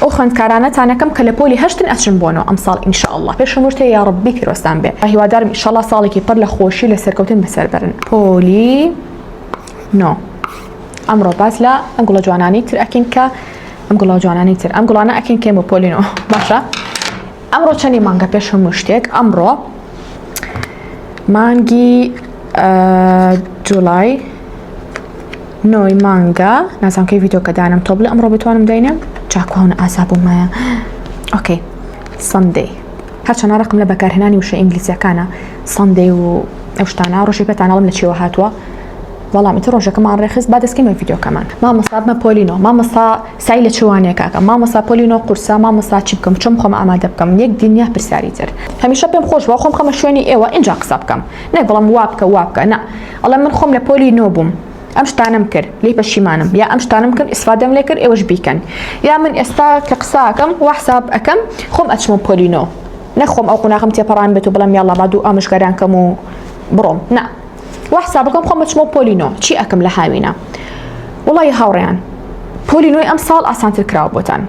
ئەو خوێندکارانەتانەکەم کە لە پۆلی هەشتن ئەچن بۆ نۆ ئەمساڵ ان شاء اللە پێش هەموو شتێ یاڕەبی پیرۆزتان بێ هیوادارم ان شاء اللە ساڵێکی پڕ لە خۆشی و لە سەرکەوتن بەسەر بەرن پۆلی نۆ ئەمڕۆ باس لە ئەم گوڵە جوانانی تر ئەکەین کە ئەم گوڵە جوانانی تر ئەم گوڵانە ئەکەین کێم بۆ پۆلی نۆ باشە ئەمڕۆ چەندی مانگە پێش هەموو شتێک ئەمڕۆ مانگی جوڵای نۆی مانگە نازانام کەی ڤیدۆکە دانم تۆ بڵێ ئەمڕۆ بتوانم داینێم چاکوان ئاسا بوومایە ئۆکەی سندەی هەرچەنە ڕقم لە بەکارهێنانی وشە ئینگلیسیەکانە سندەی و ئەو شتانە ڕۆژی پێتانەڵم لە چێوە هاتووە بەڵام ئیتر ڕۆژەکەمان ڕێخست با دەستکەین بە ڤیدۆکەمان مامەسابمە پۆلینۆ مامەسا سای لە چوانەیە کاکە مامەسا پۆلینۆ قورسا مامەسا چی بکەم چم خۆم ئامادە بکەم یەک دنیا پرسیاری تر هەمیشە پێم خۆش بە خۆم خەمە شوێنی ئێوە ئینجا قسە بکەم نەک بڵم وا بکە وا بکە نە ئەڵێ من خۆم لە پۆلی نۆ بووم ئەم شتانم کرد لی پەشیمانم یا ئەم شتانم کرد ئیسفادەم لێ کرد ئێوەش بیکەن یا من ئێستا کە قساکەم وەحساب ئەەکەم خۆم ئەچمە پۆلی نۆ نەخۆم ئەو قوناغم تێپەڕان بێت و بڵم یاڵا با دوو ئامشگاران کەم و بڕۆم نا وەحسا بکەم خۆم بچمەوە پۆلی نۆ چی ئەکەم لە هاوینە وڵی هاوڕێیان پۆلی نوێی ئەم ساڵ ئاسانتر کراوە بۆتان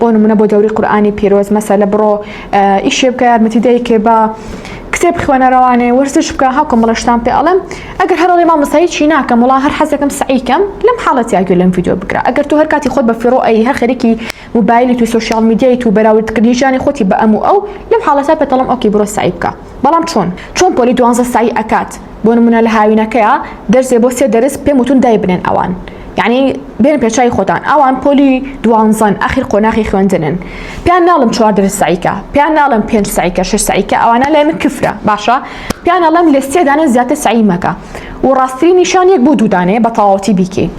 بۆ نمونە بۆ دەوری قورئانی پیرۆز مەسەلە بڕۆ ئیشێ بکە یارمەتی دایکێ با کتێب خوێنەرەوانێ وەرزش بکە هاکۆ مڵشتان پێ ئەڵم ئەگەر هەرڵێ مامەسایی چی ناکەم وڵا هەر حەزەکەم سعیکەم لەم حاڵەتی یاگوێ لەم یددیو بگرە ئەگەر تو هەر کاتی خۆت بە فیڕۆ ئەی هەر خەرێکی موبایلی تو سوسیال میدیای تو بەراوردکردنی ژانی خۆتی بە ئەم و ئەو لەم حاڵەتە پێتەڵم ئۆکی بڕۆ سعی بکە بەڵام چۆن چۆن پۆلی دوانزە سەعی ئەکات بۆ نمونە لە هاوینەکەیا دەرزێ بۆ سێ دەرس پێم وتون دای بنێن ئەوان یعنی بێن پێچای خۆتان ئەوان پۆلی دوانزەن ئەخیر قۆناخی خوێندنن پێیان ناڵم چوار دەرس سەعیکە پێیان ناڵم پێنج سەعیکە شش سەعیکە ئەوانە لای من کفرە باشە پێیان ئەڵێم لە سێ دانە زیاتر سەعی مەکە و ڕاستترین نیشان یەک بۆ دوو دانەیە بە تەواوەتی بیکەی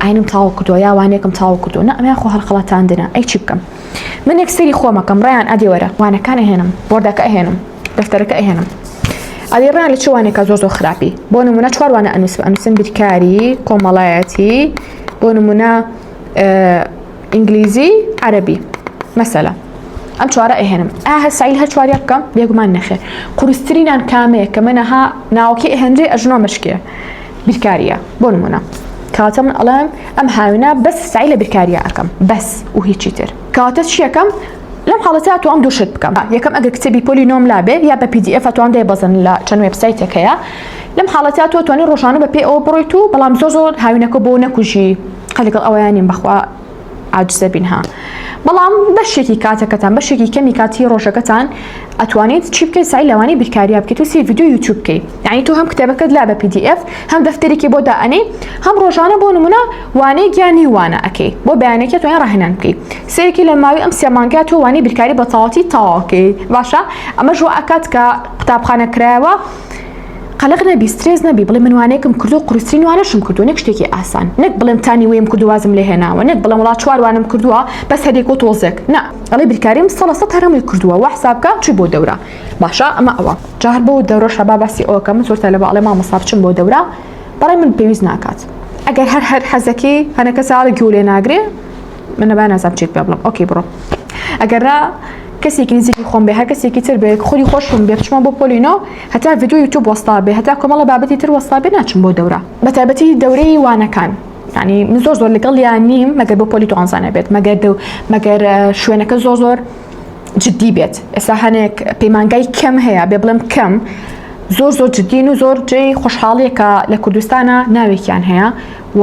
ئاینم تاو کردو یا وانێکم تاو کردو نە ئەمە خۆ هەڵخەڵەتاندنە ئەی چی بکەم من یەک سری خۆمەکەم ڕیان ئەدیوەرە وانەکان ئەهێنم بۆردەکە ئەهێنم دەفتەرەکە ئەهێنم ئەدی ڕیان لە چوانێکە زۆر زۆر خراپی بۆ نمونە چوارانە ئەنووس ئەنووسم بیرکاری کۆمەڵایەتی بۆ نمونە ئینگلیزی عەربی مەسەلە ئەم چوارە ئەهێنم ئا هەسایی هەر چوارە بکەم بێگومان نەخێر قورسترینان کامەیە کە منەها ناوکی ئەهێنرێ ئەژنۆ مشکێ بیرکاریە بۆ نمونە کاتە من ئەڵێم ئەم هاوێنە بەس سعی لە بیرکاریە ئەەکەم بەس و هیچی تر کاتە چیەکەم لەم حاڵەتە توام دوو شت بکەم یەکەم ئەگەر کتێبی پۆلی نۆم لابێ یا بە PDF توان دێ بەزن لە چەند وێبسایتێک هەیە لەم حاڵەتە تۆ توانی ڕۆژانە بە پێ ئەوە بڕیت و بەڵام زۆر زۆر هاوینەکە بۆ نەکوژی قەلگەڵ ئەویانین بەخوا عاجزە بینها بەڵام بەشێکی کاتەکەتان بەشێکی کەمی کاتی ڕۆژەکەتان ئەتوانیت چی بکەیت سای لەوانی بیرکاریا بکەیت و سی یددیو یوتوب بکەیت یعنی تۆ هەم کتێبەکەت لا بە PDF هەم دەفتەرێکی بۆ دائەنی هەم ڕۆژانە بۆ نمونە وانەی گیانی وانە ئەەکەی بۆ بەیانێکی توانای ڕاهێنان بکەیت سێکی لە ماوی ئەم سێمانگا تۆ وانی بیرکاری بە تەواتی تەواوکەی باشە ئەمە ژوە ئەکات کە قوتابخانە کرایەوە قەلق نەبی سترێز نەبی بڵێ من وانێکم کردو قورسترین وانەشم کردو نەک شتێکی ئاسان نەک بڵێم تانی ویم کردو وازم لێ هێناوە نەک بڵێم وڵا چوار وانەم کردووە بەس هەریەک و تۆزێک نا ئەڵێ بیرکاریم سەڵە سەد هەرەمووی کردووە وا حساب بکە چووی بۆ دەورە باشە ئەمە ئەوە جا هەر بۆ دەورەش هەبا باسی ئەوە کە من زۆر تەلەبە ئەڵێ مامۆستا بچم بۆ دەورە بەڵێ من پێویست ناکات ئەگەر هەر هەر حەزەکەی هەنەکە ساڵێکی و لێ ناگرێ منە با نازام چیت پێ بڵم ئۆکی بڕۆ ئەگەرا کەسێکی نزیکی خۆم بێ هەر کەسێکی تر بێ خودی خۆشم بێ بچمە بۆ پۆلینۆ هەتا ڤیددیو یوتوب وەستا بێ هەتا کۆمەڵە بابەتی تر وەستا بێ ناچم بۆ دەورە بە تایبەتی دەورەی وانەکان ینی من زۆر زۆر لەگەڵ یان نیم مەگەر بۆ پۆلی دوانزانە بێت مەگەر دە مەگەر شوێنەکە زۆر زۆر جددی بێت ئێستا هەنێک پەیمانگای کەم هەیە بێ بڵێم کەم زۆر زۆر جدین و زۆر جێی خۆشحاڵیەکە لە کوردستانە ناوێکیان هەیە و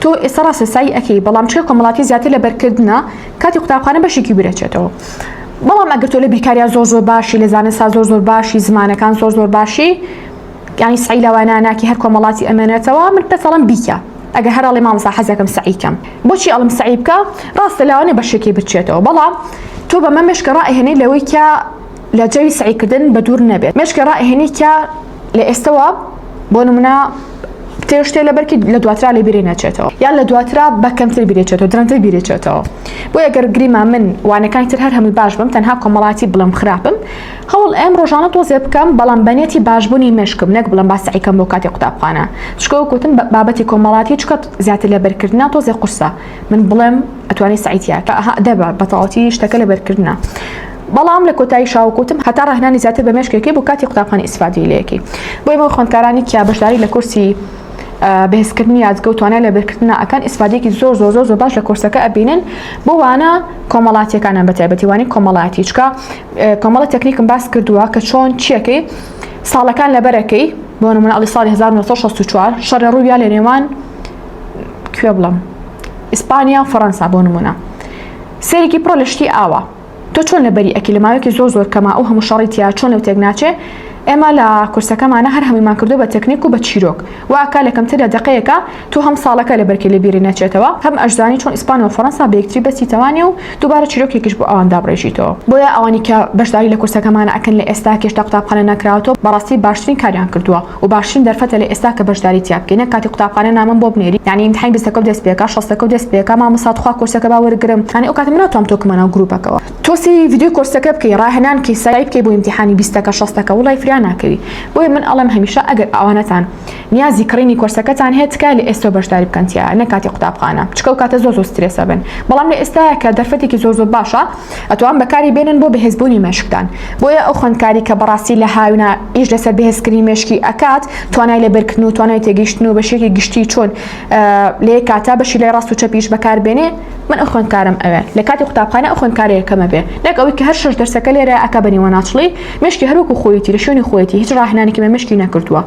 تۆ ئێستا ڕاستە سەعی ئەکەی بەڵام چێ کۆمەڵاتی زیاتر لە بەرکردنە کاتی قوتابخانە بەشێکی بیرەچێتەوە بەڵام ئەگەر تۆ لە بیرکاریا زۆر زۆر باشی لە زانسا زۆر زۆر باشی زمانەکان زۆر زۆر باشی یانی سعی لەوانە ناکی هەر کۆمەڵاتی ئەمێنێتەوە من پێسەڵم بیکە ئەگە هەر ئەڵێ مامەسا حەزەکەم سعیکەم بۆچی ئەڵم سعی بکە ڕاستە لەوانێ بەشێکی بچێتەوە بەڵام تۆ بەمە مشکە ڕائهێنەی لەوەی کە لە جەوی سعیکردن بە دوور نەبێت مشکە ڕائهێنەی کە لە ئێستەوە بۆ نمونە تێ شتێ لە بەرکی لە دواترا لە بیری نەچێتەوە یان لە دواترا بە کەمتر بیرێچێتەوە درەنتر بیرێچێتەوە بۆ یەگەر گریما من وانەکانی تر هەر هەمووی باش بم تەنها کۆمەڵاتی بڵم خراپم هەوڵ ئەم ڕۆژانە تۆزێ بکەم بەڵام بەنێتی باشبوونی مشکم نەک بڵم باسەکەم بۆ کاتی قوتابخانە چکۆ کوتم بابەتی کۆمەڵاتی چکە زیاتر لە بەرکردنا تۆزێ قورسە من بڵێم ئەتوانی سعیتیاکە دەبە بەتەواتی شتەکە لە بەرکردنا. بەڵام لە کۆتایی شاو کوتم هەتا ڕاهێنانی زیاتر بە مێشکێکی بۆ کاتی قوتابخانی ئیسفادەی لەیەکەی بۆ ئێمە خوێندکارانی کیا بەشداری لە کورسی بەهێزکردنی یادگە و توانای لە بەرکردنا ئەکەن ئیسفادێکی زۆر زۆر زۆر زۆر باش لە کورسەکە ئەبینن بۆ وانە کۆمەڵاتیەکانان بە تایبەتیوانی کۆمەڵاتی چکە کۆمەڵە تەکنیکم باس کردووە کە چۆن چیەکەی ساڵەکان لەبەرەکەی بۆ نمونە ئەڵی ساڵی 1964 شەڕێ ڕوویا لە نێوان کوێ بڵم ئیسپانیا و فەڕەنسا بۆ نمونە سەرێکی پڕۆ لە شتی ئاوە تۆ چۆن لەبەری ئەکی لەماوەیەکی زۆر زۆر کەمە ئەو هەموو شەڕی تیا چۆنە و تێک ناچێ ئێمە لە کورسەکەمانە هەر هەموویمان کردوە بە تەکنیک و بە چیرۆک وا ئەکا لە کەمتر لە دەقەیەکا تۆ هەم ساڵەکە لە بەرکەی لە بیری نەچێتەوە هەم ئەشزانی چۆن ئیسپانیا و فەرەنسا بە یەکتری بەستیتەوە نیە و دووبارە چیرۆکێکیش بۆ ئەوان دابڕێژیتەوە بۆیە ئەوانی کە بەشداری لە کورسەکەمانە ئەکەن لە ئێستاکێش تا قوتابخانە نەکراوەتەوە بەڕاستی باشترین کاریان کردوە و باشترین دەرفەتە لە ئێستا کە بەشداری تیا بکەی نەک کاتی قوتابخانە نامەم بۆ بنێری یانی ئیمتحانی بیستەکە و دەست پێکا شەستەکە و دەست پێکا مامۆستا تخوا کۆرسەکە با وەرگرم یانی ئەو کاتە من ناتوام تۆ کمە ناو گروپەکەوە تۆ سەیری ڤیدیۆی کۆرسەکە بکەی ڕاهێنان بکەی سەعی بکەی بۆ ئیمتحانی بیستەکە شەستەکە وڵای فریا ناکەوی بۆیە من ئەڵێم هەمیشە ئەگەر ئەوانەتان نیازی کڕینی کۆرسەکەتان هەیە تکایە لە ئێستۆ بەشداری بکەن تیایا نەک کاتی قوتابخانە چکە ئەو کاتە زۆر زۆر سترێسە بن بەڵام لە ئێستایە کە دەرفەتێکی زۆر زۆر باشە ئەتوان بەکاری بێنن بۆ بەهێز بوونی مێشکتان بۆیە ئەو خوێندکاری کە بەڕاستی لە هاوینا ئیش لەسەر بەهێزکردنی مێشکی ئەکات توانای لەبەرکردن و توانای تێگەیشتن و بە شێکی گشتی چۆن لە یەک کاتا بەشی لای ڕاست و چەپیش بەکار بێنێ من ئەو خوێندکارم ئەوێ لە کاتی قوتابخانە ئەو خوێندکارەکەمە بێ نەک ئەوی کە هەر شش دەرسەکە لێرە ئەکە بەنیوە ناچڵی مشکی هەروەکو خۆیەتی لە شوێنی خۆیەتی هیچ ڕاهنانێکی مە مشکی نەکردووە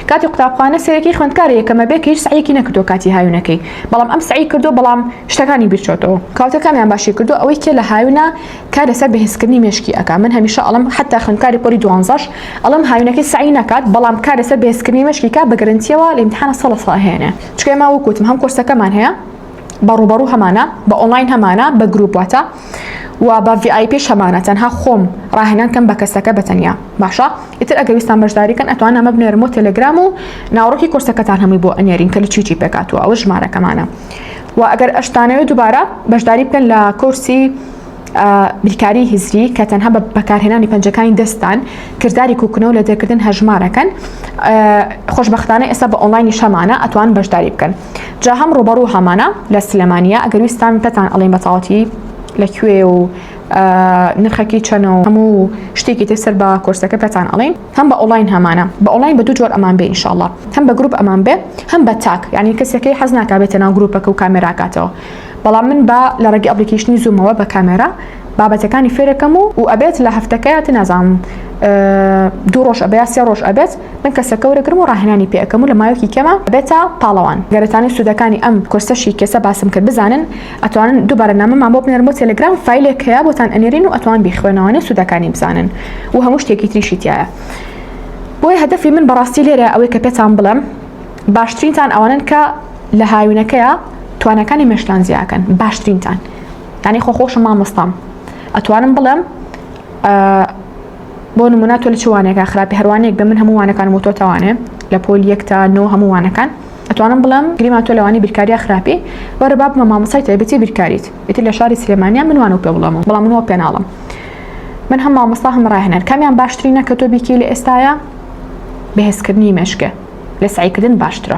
کاتی قوتابخانە سەرەکی خوێندکارە یەکەمە بێ کە هیچ سعیەکی نەکردو کاتی هاوینەکەی بەڵام ئەم سعی کردو بەڵام شتەکانی بیرچۆتەوە کاوتە کامیان باشی کردو ئەوەی کێ لە هاوینە کار لەسەر بەهێزکردنی مێشکی ئەکا من هەمیشە ئەڵم حتا خوێندکاری پۆلی دوانزەش ئەڵم هاوینەکەی سەعی نەکات بەڵام کار لەسەر بەهێزکردنی مێشکی کا بە گرنتیەوە لە ئیمتحانە سەدا سەدا هێنێ چکە ئێمە وەک وتم هەم کۆرسەکەمان هەیە بە ڕووبەڕوو هەمانە بە ئۆنڵاین هەمانە بە گروپ واتە و بە ڤی ئای پیش هەمانە تەنها خۆم ڕاهێنان کەم بە کەسەکە بە تەنیا باشە ئیتر ئەگەر ویستان بەشداری کەن ئەتوان نامە بنێرم بۆ تێلێگرام و ناوڕۆکی کۆرسەکەتان هەمووی بۆ ئەنێرین کە لچی چی پێکاتوە ئەوە ژمارەکەمانە و ئەگەر ئەشتانەوێت دووبارە بەشداری بکەن لە کۆرسی بیرکاری هزری کە تەنها بە بەکارهێنانی پەنجەکانی دەستان کردداری کوکنەوە لە دەکردن هەژمارەکەن خۆشببختانە ئێستا بە ئۆنلاینی شەمانە ئەتوان بەشداری بکەن جا هەم ڕوبەڕوو هەمانە لە سلێمانیا ئەگەر ویستان پێتان ئەڵین بەتاڵەتی لە کوێ و نرخەکی چەن و هەموو شتێکی تر سەر بە کۆرسەکە پێتان ئەڵین هەم بە ئۆلاین هەمانە بە ئۆلاین بە دوو جۆر ئەمان بێ ئینشاءله هەم بە گروپ ئەمان بێ هەم بە تاک یعنی کەسەکەی حەز ناکبێتە ناو گروپەکە و کامێراکاتەوە بەڵام من با لە ڕێگە ئەپلیکیشنی زوومەوە بە کامێرا بابەتەکانی فێرەکەم و و ئەبێت لە هەفتەکەیە نازانم دوو ڕۆژ ئەبێ سێ ڕۆژ ئەبێت من کەسەکە ورەگرم و ڕاهێنانی پێ ئەکەم و لە ماوەیەکی کەما ئەبێتە پاڵەوان گەر ئەتانن سودەکانی ئەم کۆرسەشی کێسە باسم کرد بزانن ئەتوانن دووبارە نامەمان بۆ بنێرن بۆ تێلێگرام فایلێک هەیە بۆتان ئەنێرین و ئەتوان بیخوێنەوەن و سودەکانی بزانن و هەموو شتێکی تریشی تایە بۆیە هەدەفی من بەڕاستی لێرە ئەوەی کە پێتان بڵێم باشترینتان ئەوانن کە لە هاوینەکەیە توانەکانی مێشتان زیاکەن باشترینتان یعنی خۆ خۆشم مامۆستام ئەتوانم بڵێم بۆ نمونە تۆ لە چ وانەیەکا خراپی هەر وانەیەک بێ من هەموو وانەکانم بۆ تۆ تاوانێ لە پۆل یەک تا نۆ هەموو وانەکان ئەتوانم بڵێم گریمان تۆ لەوانی بیرکاریە خراپی وەرە با بمە مامۆسای تایبەتی بیرکاریت ئیتر لە شاری سلێمانیا من وانە و پێ بڵێم و بەڵام منەوە پێناڵم من هەم مامۆستا هەم ڕاهێنەر کامیان باشترینە کە تۆ بیکی لە ئێستاە بەهێزکردنی مێشکێ لە سعیکردن باشترە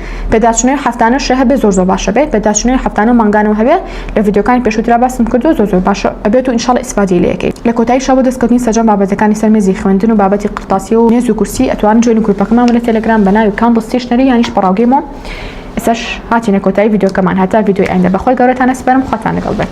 پێداچنەوەی هەفتانە شە هەبێ زۆر زۆر باشە بێت پێداچنەوەی هەفتانە مانگانەوە هەبێ لە ڤیددیوکانی پێشوترا باسم کردو زۆر زۆر باشە ئەبێت و ئینشاڵ ئیسفادی لەکەیت لە کۆتایی شەوە دەستکەوتنی سەرجەم بابەتەکانی سەر مێزی خوێندن و بابەتی قرتاسیە و مێز و کورسی ئەتوان جوێن گروپەکەمان و لە تێلەگرام بە ناوی کاندڵ ستیشنەری یانیش پەڕاوگەی مۆم ئێسش هاتینە کۆتایی ڤیددیوکەمان هەتا ڤیددیوی ئایندە بەخوای گەورەتان ئەسپەرم خواتان لەگەڵ بێت.